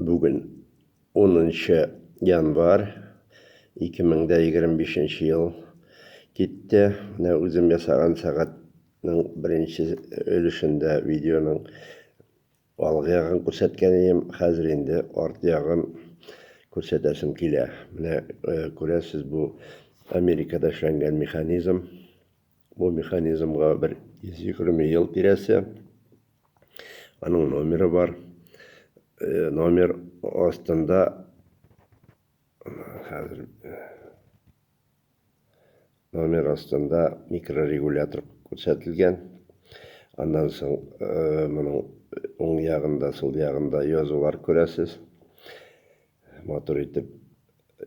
Бүген 10 нчы январь 2025 нче ел китте. Менә үзем ясаган сәгатьнең беренче өлешендә видеоның алгы ягын күрсәткән идем. Хәзер инде арт ягын күрсәтәсем килә. Менә күрәсез, бу Америкада эшләнгән механизм. Бу механизмга бер 120 ел тирәсе. Аның номеры бар. Э, номер астында хәзер э, номер астында микрорегулятор күрсәтелгән. Аннан соң э, моның уң ягында, сул ягында язулар күрәсез. Матур итеп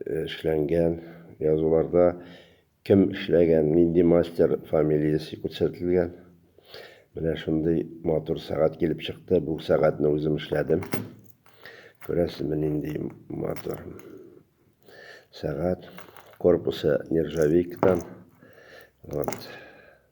эшләнгән язуларда Кем эшләгән, нинди мастер фамилиясе күрсәтелгән. Менә шундый матур сәгать килеп чыкты. Бу сәгатьне үзем эшләдем. Күрәсезме, нинди матур сәгать. Корпусы нержавейкадан. Вот.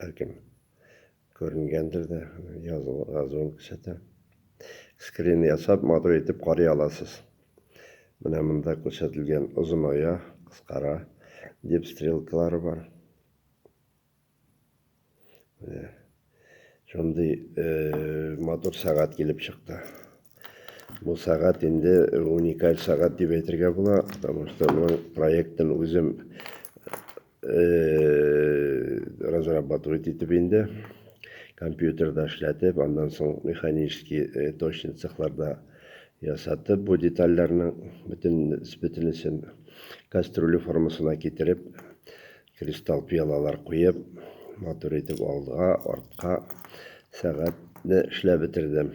Бәлкем, күренгәндер дә, языл, газуын күрсәтә. Скрин ясап, матур итеп карый аласыз. Менә монда күрсәтелгән озыная, кыскара дип стрелкалары бар. Менә шундый э, матур сәгать килеп чыкты. Бу сәгать инде уникаль сәгать дип әйтергә була, потому что моның проектын үзем Э, разрабатывать итеп инде компьютерда эшләтеп аннан соң механический э, точный цехларда ясатып бу детальләрнең бөтен бөтенесен кастрюля формасына китереп кристалл пиалалар куеп матур итеп алга артка сәгатьне эшләп бетердем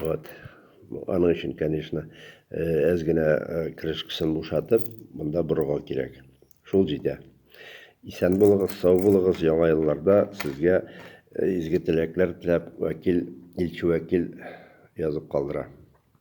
Вот. Аның өчен, конечно, әз генә крышкасын бушатып, монда борыгау кирәк. Шул җитә. Исән булыгыз, сау булыгыз, яңа елларда сезгә изге теләкләр теләп, вәкил, илче вәкил язып калдыра.